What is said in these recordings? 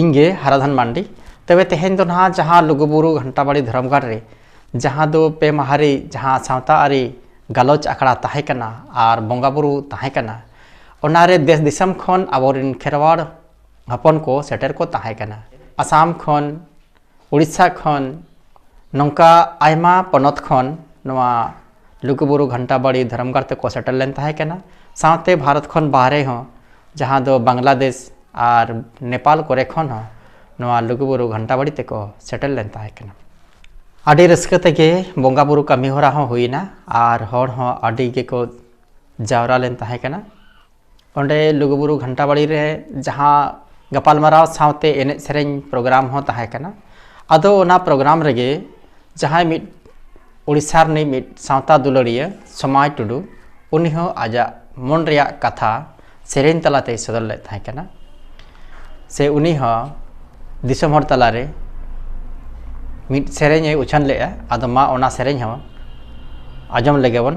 ᱤᱧᱜᱮ ᱦᱟᱨᱟᱫᱷᱟᱱ ᱢᱟᱱᱰᱤ ᱛᱚᱵᱮ ᱛᱮᱦᱮᱧ ᱫᱚ ᱱᱟᱦᱟᱜ ᱡᱟᱦᱟᱸ ᱞᱩᱜᱩᱵᱩᱨᱩ ᱜᱷᱟᱱᱴᱟᱵᱟᱲᱤ ᱫᱷᱚᱨᱚᱢ ᱜᱟᱲ ᱨᱮ ᱡᱟᱦᱟᱸ ᱫᱚ ᱯᱮ ᱢᱟᱦᱟ ᱨᱮ ᱡᱟᱦᱟᱸ ᱥᱟᱶᱛᱟ ᱟᱹᱨᱤ ᱜᱟᱞᱚᱪ ᱟᱠᱷᱲᱟ ᱛᱟᱦᱮᱸ ᱠᱟᱱᱟ ᱟᱨ ᱵᱚᱸᱜᱟᱼᱵᱩᱨᱩ ᱛᱟᱦᱮᱸ ᱠᱟᱱᱟ ᱚᱱᱟᱨᱮ ᱫᱮᱥ ᱫᱤᱥᱚᱢ ᱠᱷᱚᱱ ᱟᱵᱚᱨᱮᱱ ᱠᱷᱮᱨᱣᱟᱲ ᱦᱚᱯᱚᱱ ᱠᱚ ᱥᱮᱴᱮᱨ ᱠᱚ ᱛᱟᱦᱮᱸ ᱠᱟᱱᱟ ᱟᱥᱟᱢ ᱠᱷᱚᱱ ᱩᱲᱤᱥᱥᱟ ᱠᱷᱚᱱ ᱱᱚᱝᱠᱟ ᱟᱭᱢᱟ ᱯᱚᱱᱚᱛ ᱠᱷᱚᱱ ᱱᱚᱣᱟ ᱞᱩᱜᱩᱵᱩᱨᱩ ᱜᱷᱟᱱᱴᱟ ᱵᱟᱲᱤ ᱫᱷᱚᱨᱚᱢ ᱜᱟᱲ ᱛᱮᱠᱚ ᱥᱮᱴᱮᱨ ᱞᱮᱱ ᱛᱟᱦᱮᱸ ᱠᱟᱱᱟ ᱥᱟᱶᱛᱮ ᱵᱷᱟᱨᱚᱛ ᱠᱷᱚᱱ ᱵᱟᱦᱨᱮ ᱦᱚᱸ ᱡᱟᱦᱟᱸ ᱫᱚ ᱵᱟᱝᱞᱟᱫᱮᱥ ᱟᱨ ᱱᱮᱯᱟᱞ ᱠᱚᱨᱮ ᱠᱷᱚᱱ ᱦᱚᱸ ᱱᱚᱣᱟ ᱞᱩᱜᱩᱵᱩᱨᱩ ᱜᱷᱟᱱᱴᱟ ᱵᱟᱲᱤ ᱛᱮᱠᱚ ᱥᱮᱴᱮᱨ ᱞᱮᱱ ᱛᱟᱦᱮᱸ ᱠᱟᱱᱟ ᱟᱹᱰᱤ ᱨᱟᱹᱥᱠᱟᱹ ᱛᱮᱜᱮ ᱵᱚᱸᱜᱟ ᱵᱩᱨᱩ ᱠᱟᱹᱢᱤ ᱦᱚᱨᱟ ᱦᱚᱸ ᱦᱩᱭᱱᱟ ᱟᱨ ᱦᱚᱲ ᱦᱚᱸ ᱟᱹᱰᱤ ᱜᱮᱠᱚ ᱡᱟᱣᱨᱟ ᱞᱮᱱ ᱛᱟᱦᱮᱸ ᱠᱟᱱᱟ ᱚᱸᱰᱮ ᱞᱩᱜᱩᱵᱩᱨᱩ ᱜᱷᱟᱱᱴᱟ ᱵᱟᱲᱤ ᱨᱮ ᱡᱟᱦᱟᱸ ᱜᱟᱯᱟᱞᱢᱟᱨᱟᱣ ᱥᱟᱶᱛᱮ ᱮᱱᱮᱡ ᱥᱮᱨᱮᱧ ᱯᱨᱳᱜᱨᱟᱢ ᱦᱚᱸ ᱛᱟᱦᱮᱸ ᱠᱟᱱᱟ ᱟᱫᱚ ᱚᱱᱟ ᱯᱨᱳᱜᱨᱟᱢ ᱨᱮᱜᱮ ᱡᱟᱦᱟᱸᱭ ᱢᱤᱫ ᱳᱰᱤᱥᱟ ᱨᱤᱱᱤᱡ ᱢᱤᱫ ᱥᱟᱶᱛᱟ ᱫᱩᱞᱟᱹᱲᱤᱭᱟᱹ ᱥᱚᱢᱟᱭ ᱴᱩᱰᱩ ᱩᱱᱤ ᱦᱚᱸ ᱟᱡᱟᱜ ᱢᱚᱱ ᱨᱮᱭᱟᱜ ᱠᱟᱛᱷᱟ ᱥᱮᱨᱮᱧ ᱛᱟᱞᱟᱛᱮᱭ ᱥᱚᱫᱚᱨ ᱞᱮᱫ ᱛᱟᱦᱮᱸ ᱠᱟᱱᱟ ᱥᱮ ᱩᱱᱤ ᱦᱚᱸ ᱫᱤᱥᱚᱢ ᱦᱚᱲ ᱛᱟᱞᱟᱨᱮ ᱢᱤᱫ ᱥᱮᱨᱮᱧᱮ ᱩᱪᱷᱟᱹᱱ ᱞᱮᱫᱼᱟ ᱟᱫᱚ ᱢᱟ ᱚᱱᱟ ᱥᱮᱨᱮᱧ ᱦᱚᱸ ᱟᱸᱡᱚᱢ ᱞᱮᱜᱮ ᱵᱚᱱ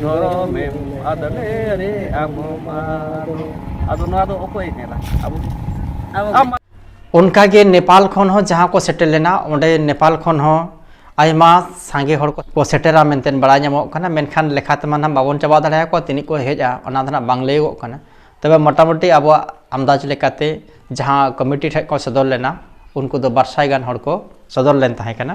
ᱡᱚᱨᱚᱢᱮᱢ ᱟᱫᱞᱮ ᱨᱮ ᱟᱢ ᱢᱟᱨᱚ ᱟᱫᱚ ᱱᱚᱣᱟ ᱫᱚ ᱚᱠᱚᱭ ᱢᱮᱱᱟ ᱟᱵᱚ ᱟᱢ ᱚᱱᱠᱟᱜᱮ ᱱᱮᱯᱟᱞ ᱠᱷᱚᱱ ᱦᱚᱸ ᱡᱟᱦᱟᱸ ᱠᱚ ᱥᱮᱴᱮᱨ ᱞᱮᱱᱟ ᱚᱸᱰᱮ ᱱᱮᱯᱟᱞ ᱠᱷᱚᱱ ᱦᱚᱸ ᱟᱭᱢᱟ ᱥᱟᱸᱜᱮ ᱦᱚᱲ ᱠᱚ ᱥᱮᱴᱮᱨᱟ ᱢᱮᱱᱛᱮ ᱵᱟᱲᱟᱭ ᱧᱟᱢᱚᱜ ᱠᱟᱱᱟ ᱢᱮᱱᱠᱷᱟᱱ ᱞᱮᱠᱷᱟ ᱛᱮᱢᱟ ᱱᱟᱦᱟᱜ ᱵᱟᱵᱚᱱ ᱪᱟᱵᱟ ᱫᱟᱲᱮᱭᱟᱠᱚᱣᱟ ᱛᱤᱱᱟᱹᱜ ᱠᱚ ᱦᱮᱡᱼᱟ ᱚᱱᱟ ᱫᱚ ᱱᱟᱦᱟᱜ ᱵᱟᱝ ᱞᱟᱹᱭᱚᱜᱚᱜ ᱠᱟᱱᱟ ᱛᱚᱵᱮ ᱢᱚᱴᱟᱢᱩᱴᱤ ᱟᱵᱚᱣᱟᱜ ᱟᱢᱫᱟᱡᱽ ᱞᱮᱠᱟᱛᱮ ᱡᱟᱦᱟᱸ ᱠᱚᱢᱤᱴᱤ ᱴᱷᱮᱱ ᱠᱚ ᱥᱚᱫᱚᱨ ᱞᱮᱱᱟ ᱩᱱᱠᱩ ᱫᱚ ᱵᱟᱨ ᱥᱟᱭ ᱜᱟᱱ ᱦᱚᱲ ᱠᱚ ᱥᱚᱫᱚᱨ ᱞᱮᱱ ᱛᱟᱦᱮᱸ ᱠᱟᱱᱟ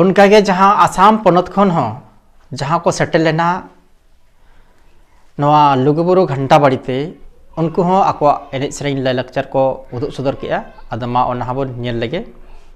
ᱚᱱᱠᱟᱜᱮ ᱡᱟᱦᱟᱸ ᱟᱥᱟᱢ ᱯᱚᱱᱚᱛ ᱠᱷᱚᱱ ᱦᱚᱸ ᱡᱟᱦᱟᱸ ᱠᱚ ᱥᱮᱴᱮᱨ ᱞᱮᱱᱟ ᱱᱚᱣᱟ ᱞᱩᱜᱩᱵᱩᱨᱩ ᱜᱷᱟᱱᱴᱟ ᱵᱟᱲᱤ ᱛᱮ ᱩᱱᱠᱩ ᱦᱚᱸ ᱟᱠᱚᱣᱟᱜ ᱮᱱᱮᱡ ᱥᱮᱨᱮᱧ ᱞᱟᱭᱞᱟᱠᱪᱟᱨ ᱠᱚ ᱩᱫᱩᱜ ᱥᱚᱫᱚᱨ ᱠᱮᱜᱼᱟ ᱟᱫᱚ ᱢᱟ ᱚᱱᱟ ᱦᱚᱸᱵᱚᱱ ᱧᱮᱞ ᱞᱮᱜᱮ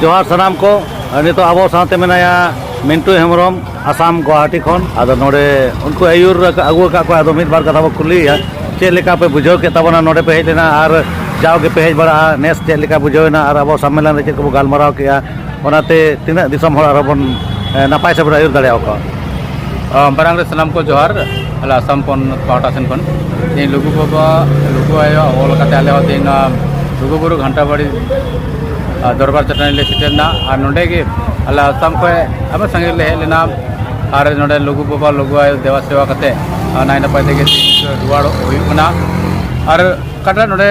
ᱡᱚᱦᱟᱨ ᱥᱟᱱᱟᱢ ᱠᱚ ᱱᱤᱛᱚᱜ ᱟᱵᱚ ᱥᱟᱶᱛᱮ ᱢᱮᱱᱟᱭᱟ ᱢᱤᱱᱴᱩ ᱦᱮᱢᱵᱨᱚᱢ ᱟᱥᱟᱢ ᱜᱩᱣᱟᱦᱟᱴᱤ ᱠᱷᱚᱱ ᱟᱫᱚ ᱱᱚᱰᱮ ᱩᱱᱠᱩ ᱟᱹᱭᱩᱨ ᱟᱹᱜᱩ ᱟᱠᱟᱫ ᱠᱚᱣᱟ ᱟᱫᱚ ᱢᱤᱫ ᱵᱟᱨ ᱠᱟᱛᱷᱟ ᱵᱚ ᱠᱩᱞᱤᱭᱮᱭᱟ ᱪᱮᱫ ᱞᱮᱠᱟ ᱯᱮ ᱵᱩᱡᱷᱟᱹᱣ ᱠᱮᱫ ᱛᱟᱵᱚᱱᱟ ᱱᱚᱰᱮ ᱯᱮ ᱦᱮᱡ ᱞᱮᱱᱟ ᱟᱨ ᱡᱟᱣ ᱜᱮᱯᱮ ᱦᱮᱡ ᱵᱟᱲᱟᱜᱼᱟ ᱱᱮᱥ ᱪᱮᱫ ᱞᱮᱠᱟ ᱵᱩᱡᱷᱟᱹᱣᱮᱱᱟ ᱟᱨ ᱟᱵᱚ ᱥᱚᱢᱢᱮᱞᱚᱱ ᱨᱮ ᱪᱮᱫ ᱠᱚᱵᱚ ᱜᱟᱞᱢᱟᱨᱟᱣ ᱠᱮᱫᱼᱟ ᱚᱱᱟᱛᱮ ᱛᱤᱱᱟᱹᱜ ᱫᱤᱥᱚᱢ ᱦᱚᱲ ᱟᱨᱚ ᱵᱚᱱ ᱱᱟᱯᱟᱭ ᱥᱮᱫ ᱵᱚᱱ ᱟᱹᱭᱩᱨ ᱫᱟᱲᱮᱭᱟᱠᱚᱣᱟ ᱢᱟᱨᱟᱝ ᱨᱮ ᱥᱟᱱᱟᱢ ᱠᱚ ᱡᱚᱦᱟᱨ ᱟᱞᱮ ᱟᱥᱟᱢ ᱯᱚᱱ ᱯᱟᱦᱴᱟ ᱥᱮᱱ ᱠᱷᱚᱱ ᱛᱮᱦᱮᱧ ᱞᱩᱜᱩ ᱵᱟᱵᱟ ᱞᱩᱜᱩ ᱟᱭᱳ ᱚᱞ ᱠᱟᱛᱮ ᱟᱞᱮ ᱦᱚᱸ ᱛᱮᱦᱮᱧ ᱱᱚᱣᱟ ᱞᱩᱜᱩ ᱵᱩᱨᱩ ᱜᱷᱟᱱᱴᱟ ᱵᱟᱲᱤ ᱫᱚᱨᱵᱟᱨ ᱪᱟᱹᱴᱟᱹᱱᱤ ᱞᱮ ᱥᱮᱴᱮᱨᱱᱟ ᱟᱨ ᱱᱚᱰᱮ ᱜᱮ ᱟᱞᱮ ᱟᱥᱟᱢ ᱠᱷᱚᱱ ᱟᱭᱢᱟ ᱥᱟᱺᱜᱤᱧ ᱞᱮ ᱦᱮᱡ ᱞᱮᱱᱟ ᱟᱨ ᱱᱚᱰᱮ ᱞᱩᱜᱩ ᱵᱟᱵᱟ ᱞᱩᱜᱩ ᱟᱭᱳ ᱫᱮᱵᱟ ᱥᱮᱵᱟ ᱠᱟᱛᱮ ᱱᱟᱭ ᱱᱟᱯᱟᱭ ᱛᱮᱜᱮ ᱨᱩᱣᱟᱹᱲ ᱦᱩᱭᱩᱜ ᱠᱟᱱᱟ ᱟᱨ ᱚᱠᱟᱴᱟᱜ ᱱᱚᱰᱮ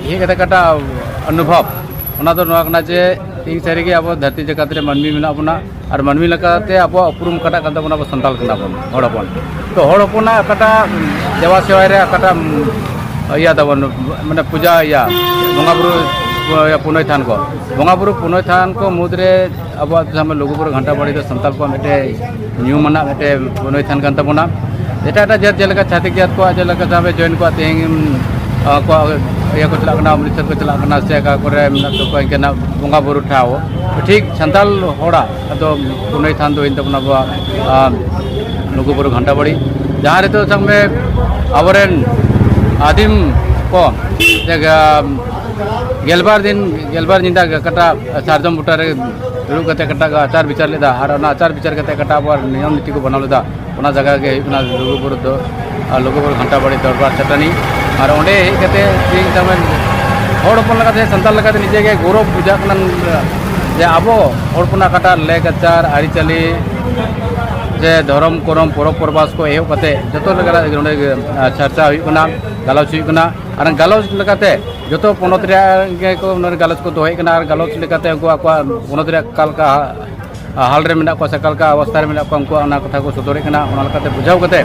ᱦᱮᱡ ᱠᱟᱛᱮ ᱚᱠᱟᱴᱟᱜ ᱚᱱᱩᱵᱷᱚᱵᱽ ᱚᱱᱟ ᱫᱚ ᱱᱚᱣᱟ ᱠᱟᱱᱟ ᱡᱮ ᱛᱮᱦᱮᱧ ᱥᱟᱹᱨᱤᱜᱮ ᱟᱵᱚ ᱫᱷᱟᱹᱨᱛᱤ ᱡᱟᱠᱟᱛ ᱨᱮ ᱢᱟᱹᱱᱢᱤ ᱢᱮᱱᱟᱜ ᱵᱚᱱᱟ ᱟᱨ ᱢᱟᱹᱱᱢᱤ ᱞᱮᱠᱟᱛᱮ ᱟᱵᱚᱣᱟᱜ ᱩᱯᱨᱩᱢ ᱚᱠᱟᱴᱟᱜ ᱠᱟᱱ ᱛᱟᱵᱚᱱᱟ ᱟᱵᱚ ᱥᱟᱱᱛᱟᱲ ᱠᱟᱱᱟ ᱵᱚᱱ ᱦᱚᱲ ᱦᱚᱯᱚᱱ ᱛᱚ ᱦᱚᱲ ᱦᱚᱯᱚᱱᱟᱜ ᱚᱠᱟᱴᱟᱜ ᱫᱮᱵᱟ ᱥᱮᱵᱟ ᱨᱮ ᱚᱠᱟᱴᱟᱜ ᱤᱭᱟᱹ ᱛᱟᱵᱚᱱ ᱢᱟᱱᱮ ᱯᱩᱡᱟ ᱤᱭᱟᱹ ᱵᱚᱸᱜᱟ ᱵᱩᱨᱩ ᱯᱩᱱᱟᱹᱭ ᱛᱷᱟᱱ ᱠᱚ ᱵᱚᱸᱜᱟ ᱵᱩᱨᱩ ᱯᱩᱱᱟᱹᱭ ᱛᱷᱟᱱ ᱠᱚ ᱢᱩᱫᱽᱨᱮ ᱟᱵᱚᱣᱟᱜ ᱡᱟᱦᱟᱸ ᱞᱩᱜᱩ ᱵᱩᱨᱩ ᱜᱷᱟᱱᱴᱟ ᱵᱟᱲᱮ ᱫᱚ ᱥᱟᱱᱛᱟᱲ ᱠᱚᱣᱟᱜ ᱢᱤᱫᱴᱮᱱ ᱧᱩᱢᱟᱱᱟᱜ ᱢᱤᱫᱴᱮᱱ ᱯᱩᱱᱟᱹᱭ ᱛᱷᱟᱱ ᱠᱟᱱ ᱛᱟᱵᱚᱱᱟ ᱮᱴᱟᱜ ᱮᱴᱟᱜ ᱡᱟᱹᱛ ᱡᱮᱞᱮᱠᱟ ᱪᱷᱟᱹᱛᱤᱠ ᱡᱟᱹᱛ ᱠᱚᱣᱟᱜ ᱡᱮᱞᱮᱠᱟ ᱡᱟᱦᱟᱸ ᱡᱚᱭᱮᱱ ᱠᱚᱣᱟ ᱛᱮᱦᱮᱧ ᱟᱠᱚᱣᱟᱜ ᱤᱭᱟᱹ ᱠᱚ ᱪᱟᱞᱟᱜ ᱠᱟᱱᱟ ᱚᱢᱨᱤᱛᱥᱚᱨ ᱠᱚ ᱪᱟᱞᱟᱜ ᱠᱟᱱᱟ ᱥᱮ ᱚᱠᱟ ᱠᱚᱨᱮ ᱢᱮᱱᱟᱜ ᱛᱟᱠᱚᱣᱟ ᱤᱱᱠᱟᱹᱱᱟᱜ ᱵᱚᱸᱜᱟ ᱵᱩᱨᱩ ᱴᱷᱟᱶ ᱴᱷᱤᱠ ᱥᱟᱱᱛᱟᱞ ᱦᱚᱲᱟᱜ ᱟᱫᱚ ᱯᱩᱱᱟᱹᱭ ᱛᱷᱟᱱ ᱫᱚ ᱦᱩᱭᱮᱱ ᱛᱟᱵᱚᱱᱟ ᱟᱵᱚᱣᱟᱜ ᱞᱩᱜᱩᱵᱩᱨᱩ ᱜᱷᱟᱱᱴᱟ ᱵᱟᱲᱤ ᱡᱟᱦᱟᱸ ᱨᱮᱫᱚ ᱥᱟᱵ ᱢᱮ ᱟᱵᱚᱨᱮᱱ ᱟᱹᱫᱤᱢ ᱠᱚ ᱜᱮᱞᱵᱟᱨ ᱫᱤᱱ ᱜᱮᱞᱵᱟᱨ ᱧᱤᱫᱟᱹ ᱠᱟᱴᱟᱜ ᱥᱟᱨᱡᱚᱢ ᱵᱩᱴᱟᱹᱨᱮ ᱫᱩᱲᱩᱵ ᱠᱟᱛᱮ ᱠᱟᱴᱟᱜ ᱟᱪᱟᱨ ᱵᱤᱪᱟᱨ ᱞᱮᱫᱟ ᱟᱨ ᱚᱱᱟ ᱟᱪᱟᱨ ᱵᱤᱪᱟᱨ ᱠᱟᱛᱮ ᱠᱟᱴᱟᱜ ᱟᱵᱚᱣᱟᱜ ᱱᱤᱭᱚᱢ ᱱᱤᱛᱤ ᱠᱚ ᱵᱮᱱᱟᱣ ᱞᱮᱫᱟ ᱚᱱᱟ ᱡᱟᱭᱜᱟ ᱜᱮ ᱦᱩᱭᱩᱜ ᱠᱟᱱᱟ ᱞᱩᱜᱩᱵᱩᱨᱩ ᱫᱚ ᱟᱨ ᱞᱩᱜᱩᱵᱩᱨᱩ ᱜᱷᱟᱱᱴᱟᱵᱟᱲᱤ ᱫᱚᱨᱵᱟᱨ ᱪᱟᱹᱴᱟᱹᱱᱤ ᱟᱨ ᱚᱸᱰᱮ ᱦᱮᱡ ᱠᱟᱛᱮ ᱛᱮᱦᱮᱧ ᱛᱟᱨᱢᱟᱱ ᱦᱚᱲ ᱦᱚᱯᱚᱱ ᱞᱮᱠᱟᱛᱮ ᱥᱟᱱᱛᱟᱲ ᱞᱮᱠᱟᱛᱮ ᱱᱤᱡᱮ ᱜᱮ ᱜᱚᱨᱚᱵᱽ ᱵᱩᱡᱷᱟᱹᱜ ᱠᱟᱱᱟ ᱡᱮ ᱟᱵᱚ ᱦᱚᱲ ᱦᱚᱯᱚᱱᱟᱜ ᱚᱠᱟᱴᱟᱜ ᱞᱮᱠᱪᱟᱨ ᱟᱹᱨᱤᱪᱟᱹᱞᱤ ᱡᱮ ᱫᱷᱚᱨᱚᱢ ᱠᱚᱨᱚᱢ ᱯᱚᱨᱚᱵᱽ ᱯᱚᱨᱵᱟᱥ ᱠᱚ ᱮᱦᱚᱵ ᱠᱟᱛᱮ ᱡᱚᱛᱚ ᱞᱮᱠᱟᱱᱟᱜ ᱱᱚᱰᱮ ᱪᱟᱨᱪᱟ ᱦᱩᱭᱩᱜ ᱠᱟᱱᱟ ᱜᱟᱞᱚᱪ ᱦᱩᱭᱩᱜ ᱠᱟᱱᱟ ᱟᱨ ᱜᱟᱞᱚᱪ ᱞᱮᱠᱟᱛᱮ ᱡᱚᱛᱚ ᱯᱚᱱᱚᱛ ᱨᱮᱭᱟᱜ ᱜᱮᱠᱚ ᱱᱚᱰᱮ ᱜᱟᱞᱚᱪ ᱠᱚ ᱫᱚᱦᱚᱭᱮᱫ ᱠᱟᱱᱟ ᱟᱨ ᱜᱟᱞᱚᱪ ᱞᱮᱠᱟᱛᱮ ᱩᱱᱠᱩ ᱟᱠᱚᱣᱟᱜ ᱯᱚᱱᱚᱛ ᱨᱮᱭᱟᱜ ᱚᱠᱟ ᱞᱮᱠᱟ ᱦᱟᱞ ᱨᱮ ᱢᱮᱱᱟᱜ ᱠᱚᱣᱟ ᱥᱮ ᱚᱠᱟ ᱞᱮᱠᱟ ᱚᱵᱚᱥᱛᱟ ᱨᱮ ᱢᱮᱱᱟᱜ ᱠᱚᱣᱟ ᱩᱱᱠᱩᱣᱟᱜ ᱚᱱᱟ ᱠᱟᱛᱷᱟ ᱠᱚ ᱥᱚᱫᱚᱨᱮᱫ ᱠᱟᱱᱟ ᱚᱱᱟ ᱞᱮᱠᱟᱛᱮ ᱵᱩᱡᱷᱟᱹᱣ ᱠᱟᱛᱮ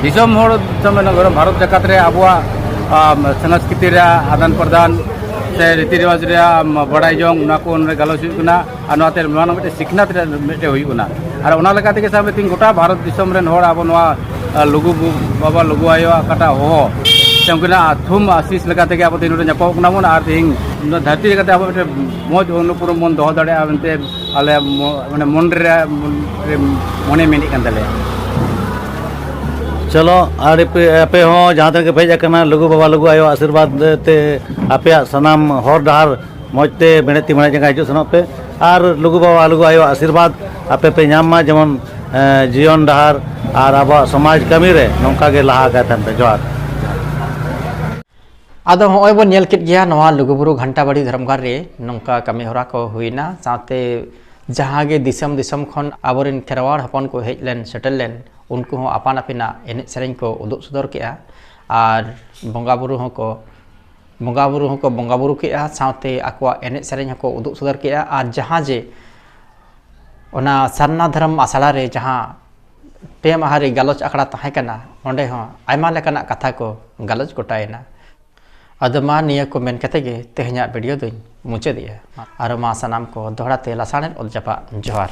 ᱫᱤᱥᱚᱢ ᱦᱚᱲ ᱫᱤᱥᱚᱢ ᱵᱷᱟᱨᱚᱛ ᱡᱟᱠᱟᱛ ᱨᱮ ᱟᱵᱚᱣᱟᱜ ᱥᱚᱝᱥᱠᱨᱤᱛᱤ ᱨᱮᱭᱟᱜ ᱟᱫᱟᱱ ᱯᱨᱚᱫᱟᱱ ᱥᱮ ᱨᱤᱛᱤ ᱨᱮᱣᱟᱡᱽ ᱨᱮᱭᱟᱜ ᱵᱟᱰᱟᱭ ᱡᱚᱝ ᱚᱱᱟ ᱠᱚ ᱚᱱᱟ ᱜᱟᱞᱚᱪ ᱦᱩᱭᱩᱜ ᱠᱟᱱᱟ ᱟᱨ ᱱᱚᱣᱟᱛᱮ ᱱᱚᱣᱟ ᱨᱮᱱᱟᱜ ᱢᱤᱫᱴᱮᱱ ᱥᱤᱠᱷᱱᱟᱹᱛ ᱨᱮ ᱢᱤᱫᱴᱮᱱ ᱦᱩᱭᱩᱜ ᱠᱟᱱᱟ ᱟᱨ ᱚᱱᱟ ᱞᱮᱠᱟ ᱛᱮᱜᱮ ᱥᱟᱵ ᱛᱤᱧ ᱜᱚᱴᱟ ᱵᱷᱟᱨᱚᱛ ᱫᱤᱥᱚᱢ ᱨᱮᱱ ᱦᱚᱲ ᱟᱵᱚ ᱱᱚᱣᱟ ᱞᱩᱜᱩ ᱵᱟᱵᱟ ᱞᱩᱜᱩ ᱟᱭᱳᱣᱟᱜ ᱚᱠᱟᱴᱟᱜ ᱦᱚᱦᱚ ᱥᱮ ᱩᱱᱠᱤᱱᱟᱜ ᱛᱷᱩᱢ ᱟᱥᱤᱥ ᱞᱮᱠᱟ ᱛᱮᱜᱮ ᱟᱵᱚ ᱛᱮᱦᱮᱧ ᱱᱚᱰᱮ ᱧᱟᱯᱟᱢᱚᱜ ᱠᱟᱱᱟ ᱵᱚᱱ ᱟᱨ ᱛᱮᱦᱮᱧ ᱱᱚᱣᱟ ᱫᱷᱟᱹᱨᱛᱤ ᱞᱮᱠᱟᱛᱮ ᱟᱵᱚ ᱢᱤᱫᱴᱮᱱ ᱢᱚᱡᱽ ᱚᱱᱩᱯᱩᱨᱚᱢ ᱵᱚᱱ ᱫᱚᱦᱚ ᱫᱟᱲᱮᱭᱟᱜᱼᱟ ᱢᱮᱱᱛᱮ ᱟᱞᱮ ᱢᱟᱱᱮ ᱢᱚᱱ ᱨᱮ ᱢᱚᱱᱮ ᱢᱮᱱᱮᱫ ᱠᱟᱱ ᱛᱟᱞᱮᱭᱟ ᱪᱚᱞᱚ ᱟᱨ ᱟᱯᱮ ᱦᱚᱸ ᱡᱟᱦᱟᱸ ᱛᱤᱱᱟᱹᱜ ᱯᱮ ᱦᱮᱡ ᱟᱠᱟᱱᱟ ᱞᱩᱜᱩ ᱵᱟᱵᱟ ᱞᱩᱜᱩ ᱟᱭᱳ ᱟᱥᱤᱨᱵᱟᱫᱽ ᱛᱮ ᱟᱯᱮᱭᱟᱜ ᱥᱟᱱᱟᱢ ᱦᱚᱨ ᱰᱟᱦᱟᱨ ᱢᱚᱡᱽ ᱛᱮ ᱢᱮᱬᱦᱮᱫ ᱛᱤ ᱢᱮᱬᱦᱮᱫ ᱡᱟᱸᱜᱟ ᱦᱤᱡᱩᱜ ᱥᱮᱱᱚᱜ ᱯᱮ ᱟᱨ ᱞᱩᱜᱩ ᱵᱟᱵᱟ ᱞᱩᱜᱩ ᱟᱭᱳ ᱟᱥᱤᱨᱵᱟᱫᱽ ᱟᱯᱮ ᱯᱮ ᱧᱟᱢ ᱢᱟ ᱡᱮᱢᱚᱱ ᱡᱤᱭᱚᱱ ᱰᱟᱦᱟᱨ ᱟᱨ ᱟᱵᱚᱣᱟᱜ ᱥᱚᱢᱟᱡᱽ ᱠᱟᱹᱢᱤ ᱨᱮ ᱱᱚᱝᱠᱟ ᱜᱮ ᱞᱟᱦᱟ ᱟᱠᱟᱭ ᱛᱟᱦᱮᱱ ᱯᱮ ᱡᱚᱦᱟᱨ ᱟᱫᱚ ᱦᱚᱸᱜᱼᱚᱭ ᱵᱚᱱ ᱧᱮᱞ ᱠᱮᱫ ᱜᱮᱭᱟ ᱱᱚᱣᱟ ᱞᱩᱜᱩᱵᱩᱨᱩ ᱜᱷᱟᱱᱴᱟᱵᱟᱲᱤ ᱫᱷᱚᱨᱚᱢᱜᱟᱲ ᱨᱮ ᱱᱚᱝᱠᱟ ᱠᱟᱹᱢᱤ ᱦᱚᱨᱟ ᱠᱚ ᱦᱩᱭᱱᱟ ᱥᱟᱶᱛᱮ ᱡᱟᱦᱟᱸ ᱜᱮ ᱫᱤᱥᱚᱢ ᱫᱤᱥᱚᱢ ᱠᱷᱚᱱ ᱟᱵᱚᱨᱮᱱ ᱠᱷᱮᱨᱣᱟᱲ ᱦᱚᱯᱚᱱ ᱠᱚ ᱦᱮᱡ ᱞᱮᱱ ᱥᱮᱴᱮᱨ ᱞᱮᱱ ᱩᱱᱠᱩ ᱦᱚᱸ ᱟᱯᱟᱱ ᱟᱹᱯᱤᱱᱟᱜ ᱮᱱᱮᱡ ᱥᱮᱨᱮᱧ ᱠᱚ ᱩᱫᱩᱜ ᱥᱚᱫᱚᱨ ᱠᱮᱜᱼᱟ ᱟᱨ ᱵᱚᱸᱜᱟ ᱵᱩᱨᱩ ᱦᱚᱸᱠᱚ ᱵᱚᱸᱜᱟ ᱵᱩᱨᱩ ᱦᱚᱸᱠᱚ ᱵᱚᱸᱜᱟ ᱵᱩᱨᱩ ᱠᱮᱜᱼᱟ ᱥᱟᱶᱛᱮ ᱟᱠᱚᱣᱟᱜ ᱮᱱᱮᱡ ᱥᱮᱨᱮᱧ ᱦᱚᱸᱠᱚ ᱩᱫᱩᱜ ᱥᱚᱫᱚᱨ ᱠᱮᱜᱼᱟ ᱟᱨ ᱡᱟᱦᱟᱸ ᱡᱮ ᱚᱱᱟ ᱥᱟᱨᱱᱟ ᱫᱷᱚᱨᱚᱢ ᱟᱥᱲᱟ ᱨᱮ ᱡᱟᱦᱟᱸ ᱯᱮ ᱢᱟᱦᱟ ᱨᱮ ᱜᱟᱞᱚᱪ ᱟᱠᱷᱲᱟ ᱛᱟᱦᱮᱸ ᱠᱟᱱᱟ ᱚᱸᱰᱮ ᱦᱚᱸ ᱟᱭᱢᱟ ᱞᱮᱠᱟᱱᱟᱜ ᱠᱟᱛᱷᱟ ᱠᱚ ᱜᱟᱞᱚᱪ ᱜᱚᱴᱟᱭᱮᱱᱟ ᱟᱫᱚ ᱢᱟ ᱱᱤᱭᱟᱹ ᱠᱚ ᱢᱮᱱ ᱠᱟᱛᱮ ᱜᱮ ᱛᱮᱦᱮᱧᱟᱜ ᱵᱷᱤᱰᱤᱭᱳ ᱫᱚᱧ ᱢᱩᱪᱟᱹᱫᱮᱜᱼᱟ ᱟᱨ ᱢᱟ ᱥᱟᱱᱟᱢ ᱠᱚ ᱫᱚᱦᱲᱟ ᱛᱮ ᱞᱟᱥᱟᱬᱦᱮᱫ ᱚᱛ ᱡᱟᱯᱟᱜ ᱡᱚᱦᱟᱨ